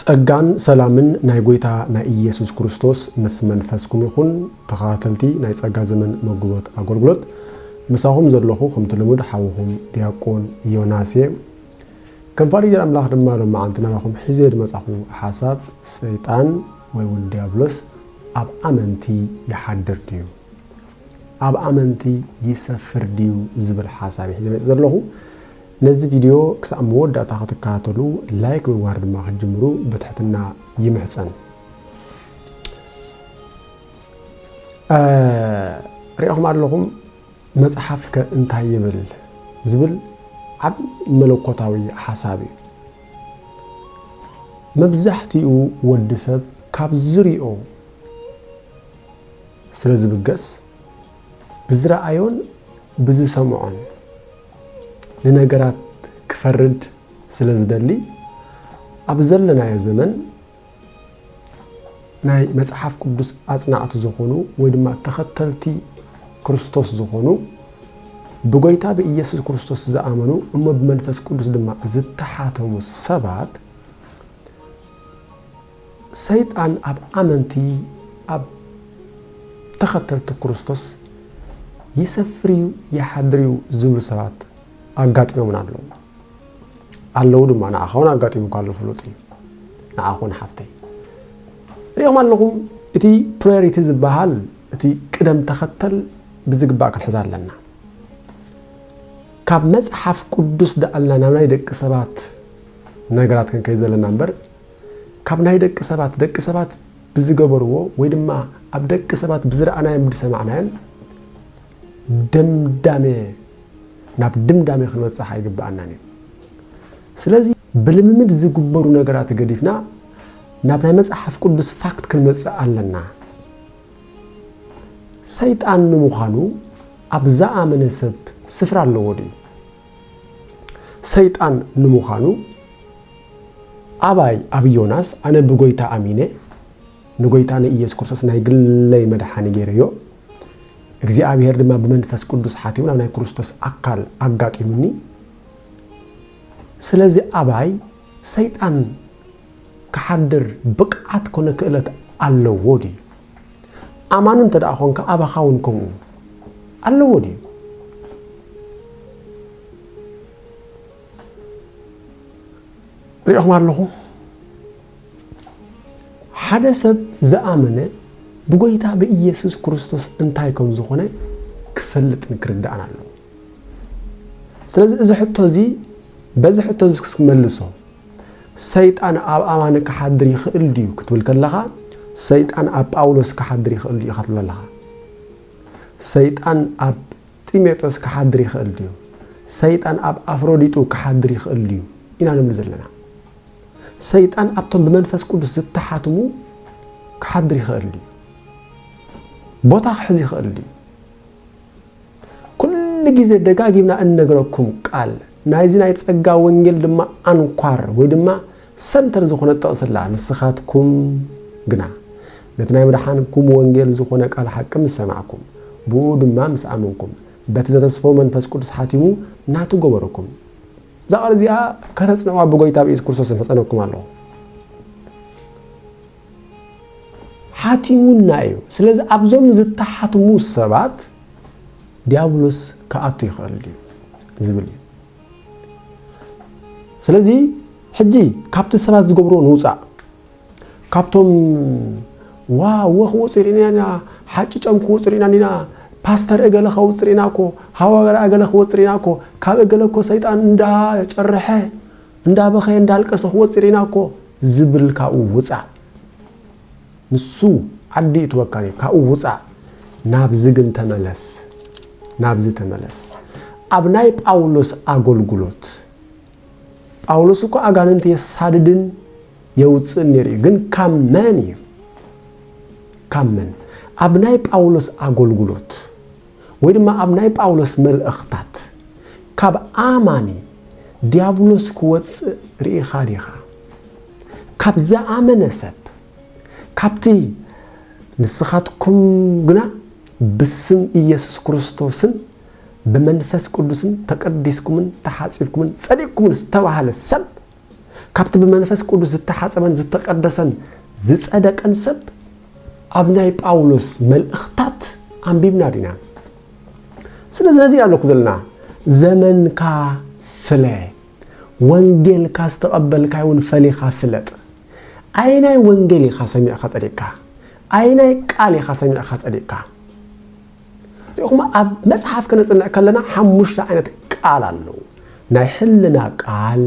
ጸጋን ሰላምን ናይ ጎይታ ናይ ኢየሱስ ክርስቶስ ምስ መንፈስኩም ይኹን ተኸታተልቲ ናይ ጸጋ ዘመን መጉቦት ኣጎልጉሎት ምሳኹም ዘለኹ ከምቲ ልሙድ ሓውኹም ድያቆን ዮናስ እየ ከም ፋሪግር ኣምላኽ ድማ ሎማዓንቲ ናባኹም ሒዘዮ ድመጻኹ ሓሳብ ሰይጣን ወይ ውን ድያብሎስ ኣብ ኣመንቲ ይሓድር ድዩ ኣብ ኣመንቲ ይሰፍር ድዩ ዝብል ሓሳብ እየ ሒዘ መጺ ዘለኹ ነዚ ቪድዮ ክሳዕ መወዳእታ ክትከታተሉ ላይክ ብምግባር ድማ ክትጅምሩ ብትሕትና ይምሕጸን። ሪኢኹም ኣለኹም መጽሓፍ ከ እንታይ ይብል ዝብል ዓብ መለኮታዊ ሓሳብ እዩ። መብዛሕትኡ ወዲ ሰብ ካብ ዝሪኦ ስለ ዝብገስ ብዝረኣዮን ብዝሰምዖን ንነገራት ክፈርድ ስለ ዝደሊ ኣብ ዘለናዮ ዘመን ናይ መጽሓፍ ቅዱስ ኣጽናዕቲ ዝኾኑ ወይ ድማ ተኸተልቲ ክርስቶስ ዝኾኑ ብጎይታ ብኢየሱስ ክርስቶስ ዝኣመኑ እሞ ብመንፈስ ቅዱስ ድማ ዝተሓተሙ ሰባት ሰይጣን ኣብ ኣመንቲ ኣብ ተኸተልቲ ክርስቶስ ይሰፍር እዩ ይሓድር እዩ ዝብሉ ሰባት ኣጋጢሞምና ኣለዉ ኣለዉ ድማ ንዓኻ እውን ኣጋጢሙካ ኣሎ ፍሉጥ እዩ ንዓኻ እውን ሓፍተይ ሪኦም ኣለኹም እቲ ፕራዮሪቲ ዝበሃል እቲ ቅደም ተኸተል ብዝግባእ ክንሕዛ ኣለና ካብ መፅሓፍ ቅዱስ ደኣልና ናብ ናይ ደቂ ሰባት ነገራት ክንከይ ዘለና እምበር ካብ ናይ ደቂ ሰባት ደቂ ሰባት ብዝገበርዎ ወይ ድማ ኣብ ደቂ ሰባት ብዝረኣናዮን ብዝሰማዕናዮን ደምዳሜ ናብ ድምዳሜ ክንበፅሕ ኣይግበኣናን እዩ። ስለዚ ብልምምድ ዝግበሩ ነገራት ገዲፍና ናብ ናይ መጽሓፍ ቅዱስ ፋክት ክንመጽእ ኣለና። ሰይጣን ንምዃኑ ኣብ ዝኣመነ ሰብ ስፍራ ኣለዎ ድዩ? ሰይጣን ንምዃኑ ኣባይ ኣብ ዮናስ ኣነ ብጎይታ ኣሚነ ንጎይታ ንኢየሱስ ክርስቶስ ናይ ግለይ መድሓኒ ገይረዮ እግዚኣብሔር ድማ ብመንፈስ ቅዱስ ሓቲሙ ናብ ናይ ክርስቶስ ኣካል ኣጋጢሙኒ ስለዚ ኣባይ ሰይጣን ክሓድር ብቅዓት ኮነ ክእለት ኣለዎ ድዩ ኣማኒ እንተደኣ ኾንካ ኣባኻ እውን ከምኡ ኣለዎ ድዩ? ሪኢኹም ኣለኹም ሓደ ሰብ ዝኣመነ ብጎይታ ብኢየሱስ ክርስቶስ እንታይ ከም ዝኾነ ክፈልጥን ክርዳእን ኣለዎ ስለዚ እዚ ሕቶ እዚ በዚ ሕቶ እዚ ክመልሶ ሰይጣን ኣብ ኣማኒ ክሓድር ይኽእል ድዩ ክትብል ከለኻ ሰይጣን ኣብ ጳውሎስ ክሓድር ይኽእል ድዩ ኢኻ ትብል ኣለኻ። ሰይጣን ኣብ ጢሞቴዎስ ክሓድር ይኽእል ድዩ? ሰይጣን ኣብ ኣፍሮዲጡ ክሓድር ይኽእል ድዩ ኢና ንብል ዘለና። ሰይጣን ኣብቶም ብመንፈስ ቅዱስ ዝተሓትሙ ክሓድር ይኽእል ድዩ? ቦታ ክሕዝ ይኽእል ድዩ? ኩሉ ግዜ ደጋጊምና እንነግረኩም ቃል ናይዚ ናይ ጸጋ ወንጌል ድማ ኣንኳር ወይ ድማ ሰንተር ዝኾነት ጥቕሲ ኣላ ንስኻትኩም ግና ነቲ ናይ መድሓንኩም ወንጌል ዝኾነ ቃል ሓቂ ምስ ሰማዕኩም ብእኡ ድማ ምስ ኣመንኩም በቲ ዘተስፎ መንፈስ ቅዱስ ሓቲሙ ናቱ ገበረኩም እዛ ቃል እዚኣ ከተጽንዕዋ ብጎይታ ብኢየሱስ ክርስቶስ እምሕጸነኩም ኣለኹ ሓቲሙና እዩ። ስለዚ ኣብዞም ዝተሓትሙ ሰባት ዲያብሎስ ክኣቱ ይኽእል ድዩ ዝብል እዩ። ስለዚ ሕጂ ካብቲ ሰባት ዝገብርዎ ንውፃእ ካብቶም ዋ ወ ክወፁ ርኢና ኢና ሓጭጮም ክወፁ ርኢና ኢና ፓስተር እገለ ከውፅር ኢና እኮ ሃዋርያ እገለ ክወፅር ኢና እኮ ካብ እገለ እኮ ሰይጣን እንዳጨርሐ እንዳበኸየ እንዳልቀሰ ክወጽእ ሪኢና እኮ ዝብል ካብኡ ውጻእ ንሱ ዓዲ ይእትወካን እዩ ካብኡ ውጻእ ናብዚ ግን ተመለስ ናብዚ ተመለስ ኣብ ናይ ጳውሎስ ኣገልግሎት ጳውሎስ እኮ ኣጋንንቲ የሳድድን የውፅእን ነይሩ እዩ ግን ካብ መን እዩ ካብ መን ኣብ ናይ ጳውሎስ ኣገልግሎት ወይ ድማ ኣብ ናይ ጳውሎስ መልእኽታት ካብ ኣማኒ ድያብሎስ ክወጽእ ርኢኻ ዲኻ? ካብ ዝኣመነ ሰብ ካብቲ ንስኻትኩም ግና ብስም ኢየሱስ ክርስቶስን ብመንፈስ ቅዱስን ተቀዲስኩምን ተሓጺብኩምን ጸዲቅኩምን ዝተባህለ ሰብ ካብቲ ብመንፈስ ቅዱስ ዝተሓጸበን ዝተቀደሰን ዝጸደቀን ሰብ ኣብ ናይ ጳውሎስ መልእኽታት ኣንቢብና ዲና? ስለዚ ነዚ ኣለኩም ዘለና ዘመንካ ፍለ ወንጌልካ ዝተቐበልካይ እውን ፈሊኻ ፍለጥ ኣይናይ ወንጌል ኢኻ ሰሚዕካ ጸዲቕካ ኣይናይ ቃል ኢኻ ሰሚዕካ ጸዲቕካ ርኢኹማ ኣብ መጽሓፍ ከነጽንዕ ከለና ሓሙሽተ ዓይነት ቃል ኣለዉ። ናይ ሕልና ቃል፣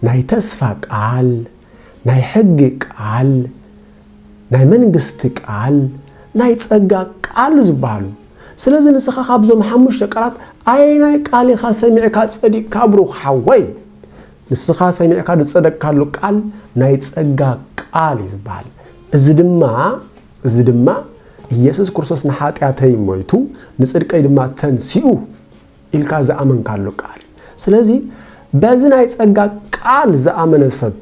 ናይ ተስፋ ቃል፣ ናይ ሕጊ ቃል፣ ናይ መንግስቲ ቃል፣ ናይ ጸጋ ቃል ዝበሃሉ። ስለዚ ንስኻ ካብዞም ሓሙሽተ ቃላት ኣየናይ ቃል ኢኻ ሰሚዕካ ጸዲቕካ ብሩኽ ሓወይ? ንስኻ ሰሚዕካ ዝጸደቅካሉ ቃል ናይ ጸጋ ቃል እዩ ዝበሃል። እዚ ድማ እዚ ድማ ኢየሱስ ክርስቶስ ንኃጢኣተይ ሞይቱ ንጽድቀይ ድማ ተንሲኡ ኢልካ ዝኣመንካሉ ቃል እዩ። ስለዚ በዚ ናይ ጸጋ ቃል ዝኣመነ ሰብ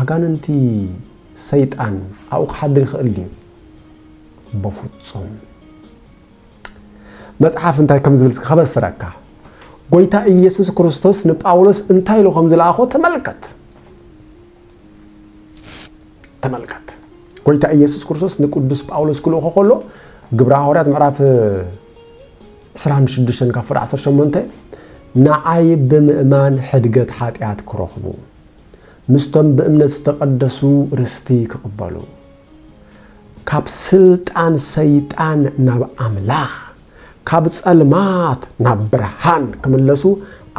ኣጋንንቲ ሰይጣን ኣብኡ ክሓድር ይኽእል ድዩ? በፍጹም። መጽሓፍ እንታይ ከም ዝብል ከበስረካ ጎይታ ኢየሱስ ክርስቶስ ንጳውሎስ እንታይ ኢሉ ከም ዝለኣኾ ተመልከት። ተመልከት ጎይታ ኢየሱስ ክርስቶስ ንቅዱስ ጳውሎስ ክልእኾ ከሎ ግብረ ሃዋርያት ምዕራፍ 26 ካብ ፍረ 18 ንዓይ ብምእማን ሕድገት ሓጢኣት ክረኽቡ ምስቶም ብእምነት ዝተቐደሱ ርስቲ ክቕበሉ ካብ ስልጣን ሰይጣን ናብ ኣምላኽ፣ ካብ ጸልማት ናብ ብርሃን ክምለሱ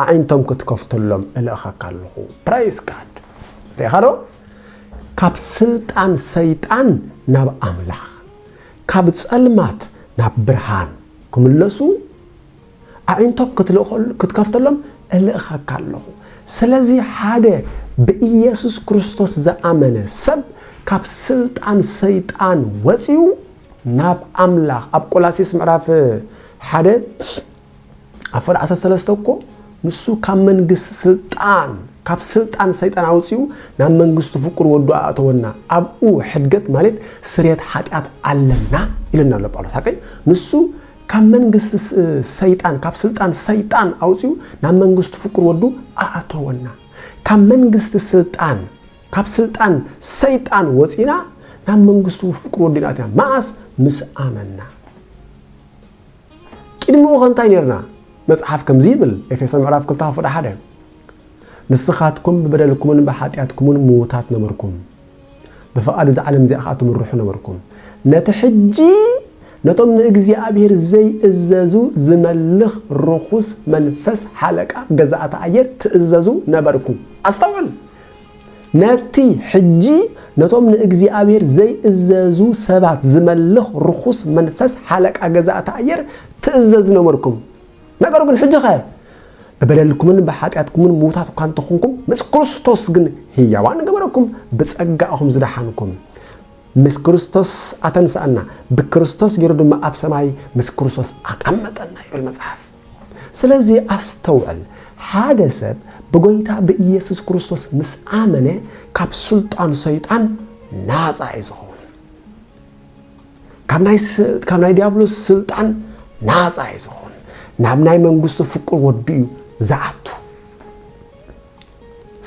ኣዒንቶም ክትከፍተሎም እልእኸካ ኣለኹ። Praise God! ርኢኻ ዶ? ካብ ስልጣን ሰይጣን ናብ ኣምላኽ፣ ካብ ጸልማት ናብ ብርሃን ክምለሱ፣ ኣዒንቶም ክትልእኸሉ ክትከፍተሎም እልእኸካ ኣሎኹ። ስለዚ ሓደ ብኢየሱስ ክርስቶስ ዝኣመነ ሰብ ካብ ስልጣን ሰይጣን ወጺኡ ናብ ኣምላኽ ኣብ ቆላሲስ ምዕራፍ ሓደ ኣብ ፈር ዓሰርተ ሰለስተ እኮ ንሱ ካብ መንግስቲ ስልጣን ካብ ስልጣን ሰይጣን ኣውጺኡ ናብ መንግስቱ ፍቁር ወዱ ኣእተወና ኣብኡ ሕድገት ማለት ስርየት ሓጢኣት ኣለና ኢለና ኣሎ ጳውሎስ ሓቀይ ንሱ ካብ መንግስቲ ሰይጣን ካብ ስልጣን ሰይጣን ኣውጺኡ ናብ መንግስቱ ፍቁር ወዱ ኣኣተወና። ካብ መንግስቲ ስልጣን ካብ ስልጣን ሰይጣን ወጺና ናብ መንግስቱ ፍቁር ወዱ ኢና ኣቲና። መኣስ ምስ ኣመና። ቅድሚኡ ከ እንታይ ነርና? መጽሓፍ ከምዚ ይብል ኤፌሶን ምዕራፍ 2 ክፍዳ ሓደ ንስኻትኩም ብበደልኩምን ብሓጢኣትኩምን ምዉታት ነበርኩም ብፍቓድ እዛ ዓለም እዚኣ ኸኣ ትምርሑ ነበርኩም። ነቲ ሕጂ ነቶም ንእግዚኣብሄር ዘይእዘዙ ዚመልኽ ርኹስ መንፈስ ሓለቃ ገዛእቲ ኣየር ትእዘዙ ነበርኩም። ኣስተውዕል! ነቲ ሕጂ ነቶም ንእግዚኣብሄር ዘይእዘዙ ሰባት ዚመልኽ ርኹስ መንፈስ ሓለቃ ገዛእቲ ኣየር ትእዘዙ ነበርኩም። ነገሩ ግን ሕጂኸ ብበደልኩምን ብሓጢኣትኩምን ምዉታት እኳ እንተኾንኩም ምስ ክርስቶስ ግን ህያዋን ገበረኩም ብጸጋ እኹም ዝደሓንኩም ምስ ክርስቶስ ኣተንስኣና ብክርስቶስ ገይሩ ድማ ኣብ ሰማይ ምስ ክርስቶስ ኣቐመጠና ይብል መጽሓፍ ስለዚ ኣስተውዕል ሓደ ሰብ ብጎይታ ብኢየሱስ ክርስቶስ ምስ ኣመነ ካብ ስልጣን ሰይጣን ናጻ እዩ ዝኸውን ካብ ናይ ዲያብሎስ ስልጣን ናፃ እዩ ዝኾን ናብ ናይ መንግስቱ ፍቁር ወዱ እዩ ዝኣቱ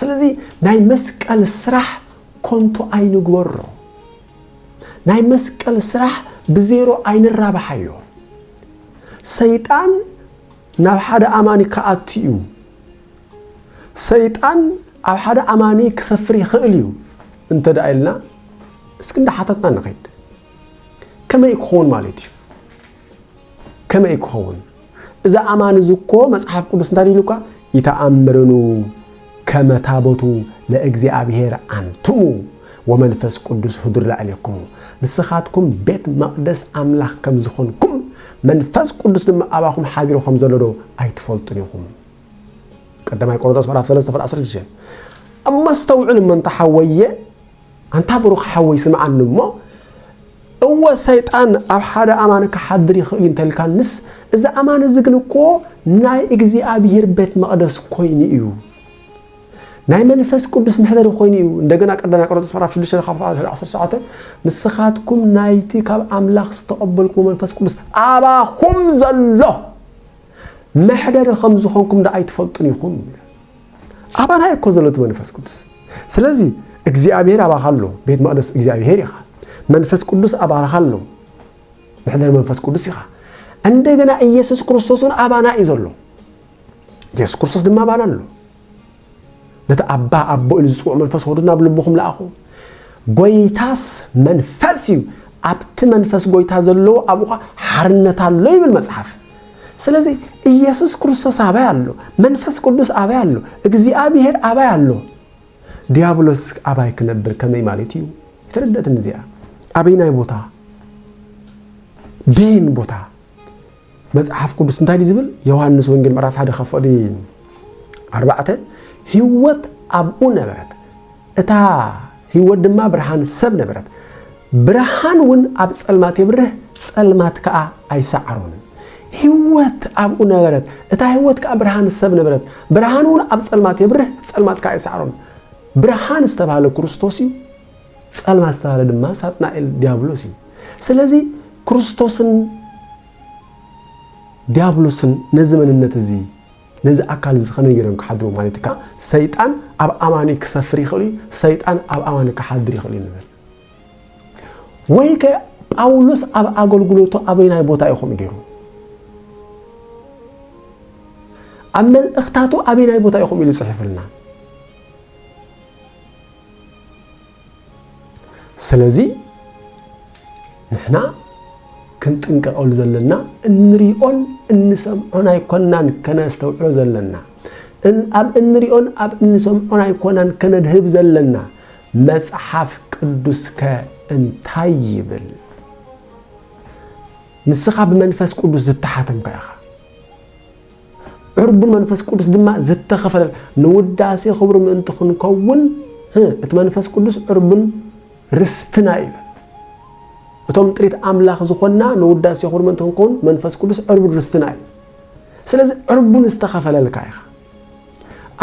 ስለዚ ናይ መስቀል ስራሕ ኮንቱ ኣይንግበሮ ናይ መስቀል ስራሕ ብዜሮ ኣይንራብሓዮ ሰይጣን ናብ ሓደ ኣማኒ ክኣቱ እዩ። ሰይጣን ኣብ ሓደ ኣማኒ ክሰፍር ይኽእል እዩ እንተ ደኣ ኢልና እስኪ እንዳሓተትና ንኸይድ። ከመይ ክኸውን ማለት እዩ? ከመይ ክኸውን? እዚ ኣማኒ እዚ እኮ መጽሓፍ ቅዱስ እንታይ ኢሉካ? ይተኣምርኑ ከመ ታቦቱ ለእግዚኣብሔር ኣንትሙ ወመንፈስ ቅዱስ ህዱር ላዕሌክሙ፣ ንስኻትኩም ቤት መቕደስ ኣምላኽ ከም ዝዀንኩም፣ መንፈስ ቅዱስ ድማ ኣባኹም ሓዲሩ ከም ዘሎዶ ኣይትፈልጡን ኢኹም። ቀዳማይ ቆሮንቶስ ምዕራፍ ሰለስተ ፍረ ዓሰርተ ሽዱሽተ እሞ ኣስተውዕል እሞ እንተ ሓወየ ኣንታ ብሩኽ ሓወይ ስምዓኒ እሞ እወ ሰይጣን ኣብ ሓደ ኣማኒ ክሓድር ይኽእል'ዩ እንተልካንስ፣ እዚ ኣማኒ እዚ ግን እኮ ናይ እግዚኣብሄር ቤት መቕደስ ኮይኑ እዩ። ናይ መንፈስ ቅዱስ መሕደሪ ኮይኑ እዩ። እንደገና ቀዳማይ ቆሮንቶስ ምዕራፍ 6 ካብ 19 ንስኻትኩም ናይቲ ካብ ኣምላኽ ዝተቐበልኩሞ መንፈስ ቅዱስ ኣባኹም ዘሎ መሕደሪ ከም ዝኾንኩም ደኣ ኣይትፈልጡን ኢኹም። ኣባና እኮ ዘሎ እቲ መንፈስ ቅዱስ ስለዚ እግዚኣብሄር ኣባኻ ኣሎ ቤት መቕደስ እግዚኣብሄር ኢኻ መንፈስ ቅዱስ ኣባኻ ኣሎ መሕደሪ መንፈስ ቅዱስ ኢኻ እንደገና ኢየሱስ ክርስቶስ እውን ኣባና እዩ ዘሎ ኢየሱስ ክርስቶስ ድማ ኣባና ኣሎ ነቲ ኣባ ኣቦ ኢሉ ዝፅውዑ መንፈስ ወዱ ናብ ልብኹም ለኣኹ ጎይታስ መንፈስ እዩ ኣብቲ መንፈስ ጎይታ ዘለዎ ኣብኡ ሓርነት ኣሎ ይብል መፅሓፍ ስለዚህ ኢየሱስ ክርስቶስ አባይ አሎ፣ መንፈስ ቅዱስ አባይ አሎ፣ እግዚአብሔር አባይ አሎ። ዲያብሎስ አባይ ክነብር ከመይ ማለት እዩ? የተረደትም እዚያ አበይናይ ቦታ ቤን ቦታ መጽሐፍ ቅዱስ እንታይ ድዩ ዝብል ዮሐንስ ወንጌል ምዕራፍ ሓደ ካብ ፍቕዲ ኣርባዕተ ህይወት ኣብኡ ነበረት እታ ህይወት ድማ ብርሃን ሰብ ነበረት። ብርሃን እውን ኣብ ጸልማት የብርህ፣ ጸልማት ከኣ ኣይሰዓሮን። ህይወት ኣብኡ ነበረት፣ እታ ህይወት ከኣ ብርሃን ሰብ ነበረት። ብርሃን እውን ኣብ ጸልማት የብርህ፣ ጸልማት ከኣ ኣይሰዓሮን። ብርሃን ዝተባህለ ክርስቶስ እዩ፣ ጸልማት ዝተባህለ ድማ ሳጥናኤል ዲያብሎስ እዩ። ስለዚ ክርስቶስን ዲያብሎስን ነዚ መንነት እዚ ነዚ ኣካል እዚ ከመይ ጌሮም ክሓድሩ ማለት እካ ሰይጣን ኣብ ኣማኒ ክሰፍር ይኽእል እዩ ሰይጣን ኣብ ኣማኒ ክሓድር ይኽእል እዩ ንብል ወይ ከ ጳውሎስ ኣብ ኣገልግሎቱ ኣበይናይ ቦታ ኢኹም ገይሩ ኣብ መልእኽታቱ ኣበይናይ ቦታ ኢኹም ኢሉ ጽሒፉልና ስለዚ ንሕና ክንጥንቀቐሉ ዘለና እንሪኦን እንሰምዖን ኣይኮናን ከነስተውዕሎ ዘለና ኣብ እንሪኦን ኣብ እንሰምዖን ኣይኮናን ከነድህብ ዘለና መጽሓፍ ቅዱስከ እንታይ ይብል ንስኻ ብመንፈስ ቅዱስ ዝተሓተምካ ኢኻ ዕርቡን መንፈስ ቅዱስ ድማ ዝተኸፈለን ንውዳሴ ክብሩ ምእንቲ ክንከውን እቲ መንፈስ ቅዱስ ዕርቡን ርስትና ኢለ እቶም ጥሪት ኣምላኽ ዝኾንና ንውዳሴ ክብሩ ምእንቲ ክንከውን መንፈስ ቅዱስ ዕርቡን ርስትና እዩ ስለዚ ዕርቡን ዝተኸፈለልካ ኢኻ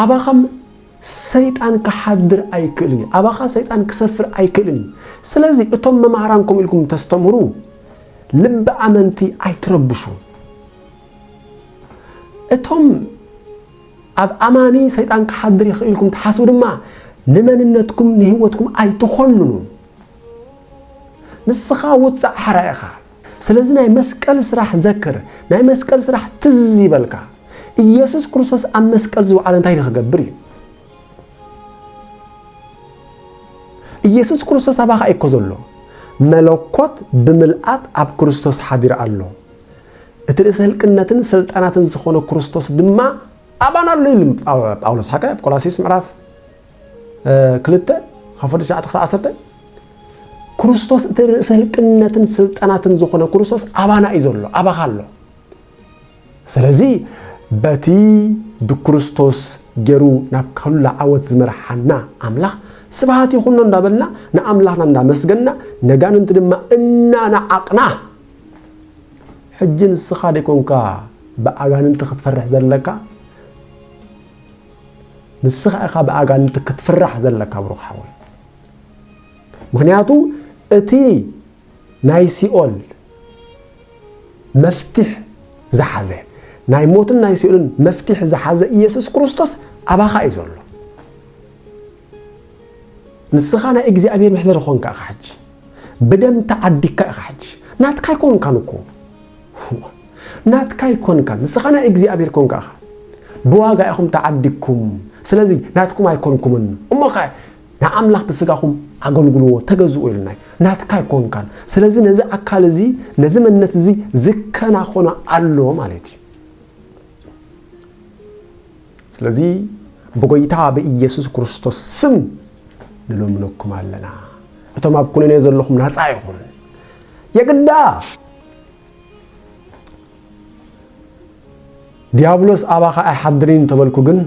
ኣባኻም ሰይጣን ክሓድር ኣይክእልን እዩ ኣባኻ ሰይጣን ክሰፍር ኣይክእልን እዩ ስለዚ እቶም መማህራንኩም ኢልኩም ተስተምህሩ ልቢ ኣመንቲ ኣይትረብሹ እቶም ኣብ ኣማኒ ሰይጣን ክሓድር ይኽእል ኢልኩም ትሓስቡ ድማ ንመንነትኩም ንህይወትኩም ኣይትኾንኑ ንስኻ ውፃእ ሓራ ኢኻ ስለዚ ናይ መስቀል ስራሕ ዘክር ናይ መስቀል ስራሕ ትዝ ይበልካ ኢየሱስ ክርስቶስ ኣብ መስቀል ዝውዓለ እንታይ ንክገብር እዩ ኢየሱስ ክርስቶስ ኣባኻ እኮ ዘሎ መለኮት ብምልኣት ኣብ ክርስቶስ ሓዲር ኣሎ እቲ ርእሰ ህልቅነትን ሰልጣናትን ዝኾነ ክርስቶስ ድማ ኣባና ኣሎ ኢሉ ጳውሎስ ሓቀ ኣብ ቆላሲስ ምዕራፍ ክልተ ካብ ፍርዲ ሸዓተ ክሳብ ዓሰርተ ክርስቶስ እቲ ርእሰ ህልቅነትን ስልጣናትን ዝኾነ ክርስቶስ ኣባና እዩ ዘሎ ኣባኻ ኣሎ ስለዚ በቲ ብክርስቶስ ገይሩ ናብ ካሉላ ዓወት ዝመርሓና ኣምላኽ ስብሃት ይኹኖ እንዳበልና ንኣምላኽና እንዳመስገና ነጋንንቲ ድማ እናነዓቕና ሕጂ ንስኻ ደይኮንካ ብኣጋንንቲ ክትፈርሕ ዘለካ ንስኻ ኢኻ ብኣጋንንቲ ክትፍራሕ ዘለካ ብሩኽ ሓወይ ምክንያቱ እቲ ናይ ሲኦል መፍትሕ ዝሓዘ ናይ ሞትን ናይ ሲኦልን መፍትሕ ዝሓዘ ኢየሱስ ክርስቶስ ኣባኻ እዩ ዘሎ ንስኻ ናይ እግዚኣብሔር መሕደሪ ኾንካ ኢኻ ሕጂ ብደም ተዓዲግካ ኢኻ ሕጂ ናትካ ኣይኮንካን እኮ ናትካ ኣይኮንካን ንስኻ ናይ እግዚኣብሔር ኮንካ ኢኻ ብዋጋ ኢኹም ተዓዲግኩም ስለዚ ናትኩም ኣይኮንኩምን እሞኸ ንኣምላኽ ብስጋኹም ኣገልግልዎ ተገዝኡ ኢልና ናትካ ኣይኮንካን ስለዚ ነዚ ኣካል እዚ ነዚ መንነት እዚ ዝከናኾነ ኣሎ ማለት እዩ ስለዚ ብጎይታ ብኢየሱስ ክርስቶስ ስም ንልምነኩም ኣለና እቶም ኣብ ኩነኔ ዘለኹም ናጻ ይኹን የግዳ ዲያብሎስ ኣባኻ ኣይሓድርን ተበልኩ ግን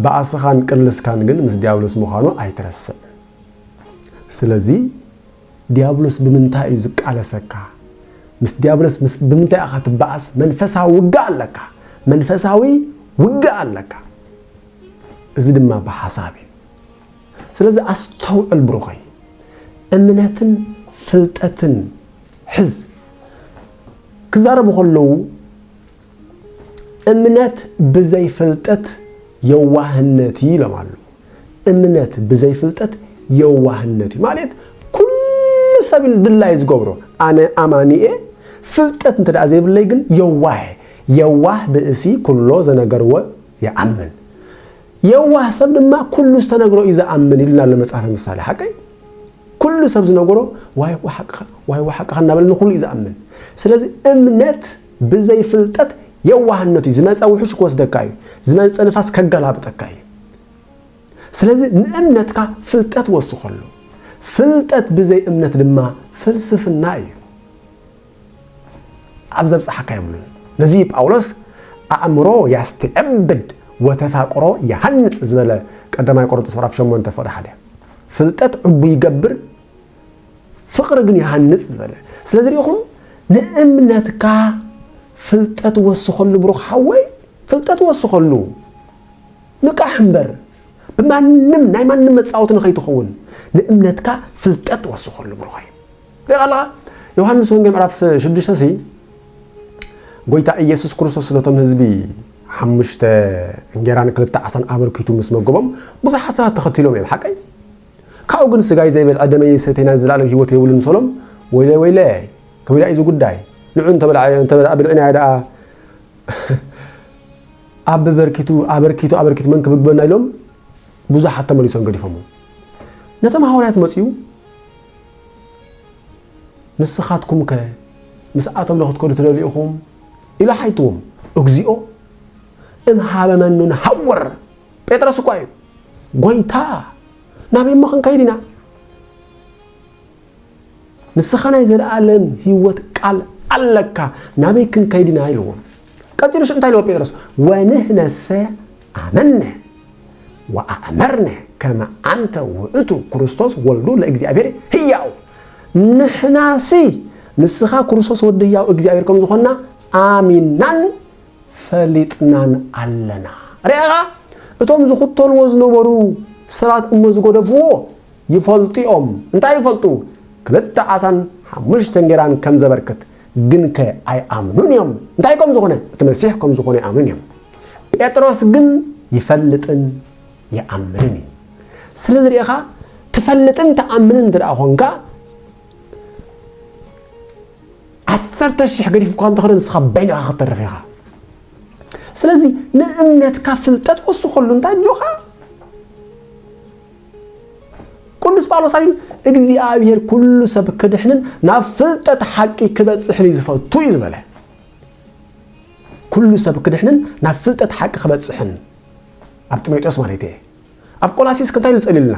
ብኣስኻን ቅልስካን ግን ምስ ዲያብሎስ ምዃኑ ኣይትረስዕ ስለዚ ድያብሎስ ብምንታይ እዩ ዝቃለሰካ? ምስ ድያብሎስ ምስ ብምንታይ ኢኻ ትበኣስ? መንፈሳዊ ውግእ ኣለካ። መንፈሳዊ ውግእ ኣለካ። እዚ ድማ ብሓሳብ እዩ። ስለዚ ኣስተውዕል ብሩኸይ። እምነትን ፍልጠትን ሕዝ። ክዛረቡ ከለዉ እምነት ብዘይ ፍልጠት የዋህነት እዩ ኢሎም ኣለዉ እምነት ብዘይ ፍልጠት የዋህነት እዩ ማለት ኩሉ ሰብ ድላይ ዝገብሮ ኣነ ኣማኒ እየ ፍልጠት እንተ ደኣ ዘይብለይ ግን የዋህ እየ የዋህ ብእሲ ኩሎ ዘነገርዎ ይኣምን የዋህ ሰብ ድማ ኩሉ ዝተነግሮ እዩ ዝኣምን ኢልና ኣሎ መጽሓፈ ምሳሌ ሓቀይ ኩሉ ሰብ ዝነገሮ ዋይ ዋሓቅኻ ዋይ ዋሓቅኻ እናበለ ንኹሉ እዩ ዝኣምን ስለዚ እምነት ብዘይ ፍልጠት የዋህነት እዩ ዝመጸ ውሕጅ ክወስደካ እዩ ዝመጸ ንፋስ ከገላብጠካ እዩ ስለዚ ንእምነትካ ፍልጠት ወስኸሉ ፍልጠት ብዘይ እምነት ድማ ፍልስፍና እዩ ኣብ ዘብጽሓካ የብሉን ነዚ ጳውሎስ ኣእምሮ ያስተዕብድ ወተፋቅሮ ይሃንጽ ዝበለ ቀዳማይ ቆሮንጦስ ምዕራፍ 8 ፍቅዲ ሓደ ፍልጠት ዕቡ ይገብር ፍቕሪ ግን ይሃንጽ ዝበለ ስለዚ ርኢኹም ንእምነትካ ፍልጠት ወስኸሉ ብሩኽ ሓወይ ፍልጠት ወስኸሉ ንቃሕ እምበር ብማንም ናይ ማንም መጻወቲ ንኸይትኸውን ንእምነትካ ፍልጠት ወስኸሉ ብሩኸይ ሪኻ ኣለኻ ዮሃንስ ወንጌል ምዕራፍ 6 ሲ ጎይታ ኢየሱስ ክርስቶስ ነቶም ህዝቢ ሓሙሽተ እንጌራን ክልተ ዓሳን ኣበርኪቱ ምስ መገቦም ብዙሓት ሰባት ተኸቲሎም እዮም ሓቀይ ካብኡ ግን ስጋይ ዘይበልዐ ደመይ ዘይሰተየ ናይ ዘላለም ህይወት የብሉን ምሰሎም ወይለይ ወይለይ ከቢዳ እዩ እዚ ጉዳይ ንዑ እንተበልዐ ብልዕናዮ ደኣ ኣብ በርኪቱ ኣበርኪቱ ኣበርኪቱ መን ክብግበና ኢሎም ብዙሓት ተመሊሶም ገዲፎሞ ነቶም ሃዋርያት መፅኡ ንስኻትኩም ከ ምስኣቶም ዶ ክትከዱ ትደልዩ ኢኹም ኢሉ ሓይትዎም እግዚኦ እምሃበ መኑን ሃወር ጴጥሮስ እኳ እዩ ጎይታ ናበይ እሞ ክንከይድ ኢና ንስኻ ናይ ዘለኣለም ህይወት ቃል ኣለካ ናበይ ክንከይድ ኢና ኢልዎ ቀፂሉ ሽ እንታይ ኢልዎ ጴጥሮስ ወንህነሰ ኣመነ ወኣእመርነ ከመ ኣንተ ውእቱ ክርስቶስ ወልዱ ለእግዚኣብሔር ህያው ንሕናሲ ንስኻ ክርስቶስ ወዲ ህያው እግዚኣብሔር ከም ዝኾንና ኣሚናን ፈሊጥናን ኣለና። ርኣኻ እቶም ዝኽተልዎ ዝነበሩ ሰባት እሞ ዝገደፍዎ ይፈልጡ'ዮም። እንታይ ይፈልጡ? ክልተ ዓሳን ሓሙሽተ እንጌራን ከም ዘበርክት። ግንከ ኣይኣምኑን እዮም። እንታይ ከም ዝኾነ? እቲ መሲሕ ከም ዝኾነ ይኣምኑን እዮም። ጴጥሮስ ግን ይፈልጥን ይኣምንን እዩ። ስለዚ ርኢኻ ትፈልጥን ትኣምንን እንተ ደኣ ኾንካ ዓሰርተ ሽሕ ገዲፉካ እንተኸደ ንስኻ በይንኻ ክትተርፍ ኢኻ ስለዚ ንእምነትካ ፍልጠት ወስኸሉ እንታይ ጆኻ ቅዱስ ጳውሎስ ኣቢሉ እግዚኣብሔር ኩሉ ሰብ ክድሕንን ናብ ፍልጠት ሓቂ ክበፅሕን እዩ ዝፈቱ እዩ ዝበለ ኩሉ ሰብ ክድሕንን ናብ ፍልጠት ሓቂ ክበፅሕን ኣብ ጢሞቴዎስ ማለት እየ ኣብ ቆላሲስ እንታይ ኢሉ ጸልዩልና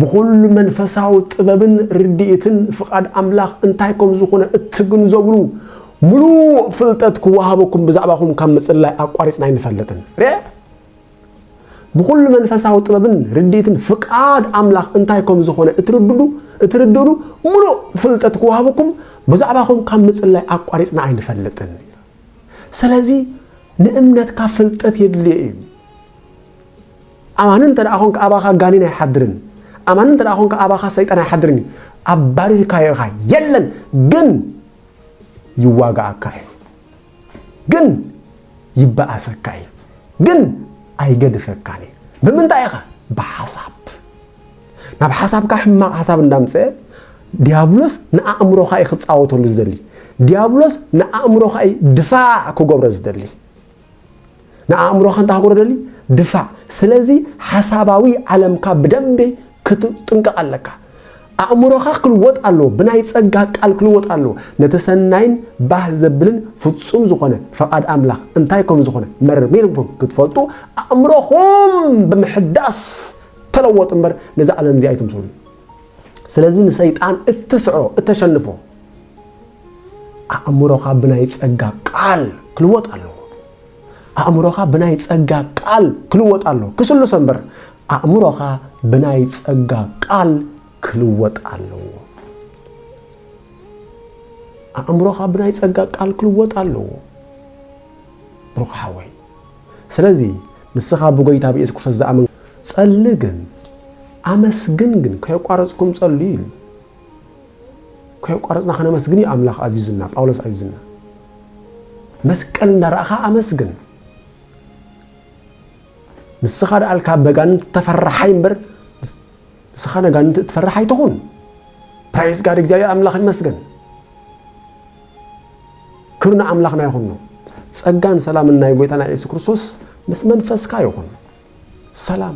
ብኹሉ መንፈሳዊ ጥበብን ርድኢትን ፍቓድ ኣምላኽ እንታይ ከም ዝኾነ እትግንዘብሉ ምሉእ ፍልጠት ክወሃበኩም ብዛዕባኹም ካብ ምጽላይ ኣቋሪጽና ኣይንፈልጥን። ርእ ብኹሉ መንፈሳዊ ጥበብን ርድኢትን ፍቃድ ኣምላኽ እንታይ ከም ዝኾነ እትርድዱ እትርድእሉ ምሉእ ፍልጠት ክወሃበኩም ብዛዕባኹም ካብ ምጽላይ ኣቋሪጽና ኣይንፈልጥን። ስለዚ ንእምነትካ ፍልጠት የድልዮ እዩ። ኣማኒ እንተ ደኣ ዀንካ ኣባኻ ጋኒን ኣይሓድርን፣ ኣማኒ እንተ ደኣ ዀንካ ኣባኻ ሰይጣን ኣይሓድርን እዩ። ኣባሪርካዮ ኢኻ፣ የለን ግን ይዋግኣካ እዩ፣ ግን ይበኣሰካ እዩ፣ ግን ኣይገድፈካን እዩ። ብምንታይ ኢኻ? ብሓሳብ። ናብ ሓሳብካ ሕማቕ ሓሳብ እንዳምጽአ ዲያብሎስ ንኣእምሮኻ እዩ ክጻወተሉ ዝደሊ። ዲያብሎስ ንኣእምሮኻ እዩ ድፋዕ ክገብሮ ዝደሊ። ንኣእምሮኻ እንታይ ክገብሮ ደሊ ድፋዕ ስለዚ ሓሳባዊ ዓለምካ ብደንቢ ክትጥንቀቕ ኣለካ ኣእምሮኻ ክልወጥ ኣለዎ ብናይ ጸጋ ቃል ክልወጥ ኣለዎ ነቲ ሰናይን ባህ ዘብልን ፍጹም ዝኾነ ፈቓድ ኣምላኽ እንታይ ከም ዝኾነ መርሚርኩም ክትፈልጡ ኣእምሮኹም ብምሕዳስ ተለወጡ እምበር ነዚ ዓለም እዚ ኣይትምስሉ ስለዚ ንሰይጣን እትስዕሮ እተሸንፎ ኣእምሮኻ ብናይ ጸጋ ቃል ክልወጥ ኣለዎ። ኣእምሮኻ ብናይ ጸጋ ቃል ክልወጥ ኣለዎ። ክስሉሰ እምበር ኣእምሮኻ ብናይ ጸጋ ቃል ክልወጥ ኣለዎ። ኣእምሮኻ ብናይ ጸጋ ቃል ክልወጥ ኣለዎ። ብሩኽ ሓወይ ስለዚ ንስኻ ብጎይታ ብኢየሱስ ክርስቶስ ዝኣምን ጸሊ ግን ኣመስግን ግን ከየቋረጽኩም ጸልዩ ኢሉ ከየቋረጽና ከነመስግን እዩ ኣምላኽ ኣዚዙና፣ ጳውሎስ ኣዚዙና። መስቀል እንዳረኣኻ ኣመስግን። ንስኻ ደኣልካ በጋንንቲ ተፈራሓይ እምበር ንስኻ ነጋንንቲ እትፈራሕ ኣይትኹን። ፕራይዝ ጋድ እግዚኣብሔር ኣምላኽ ይመስገን። ክብሪ ንኣምላኽና ይኹን ነው። ጸጋን ሰላምን ናይ ጎይታና ኢየሱስ ክርስቶስ ምስ መንፈስካ ይኹን። ሰላም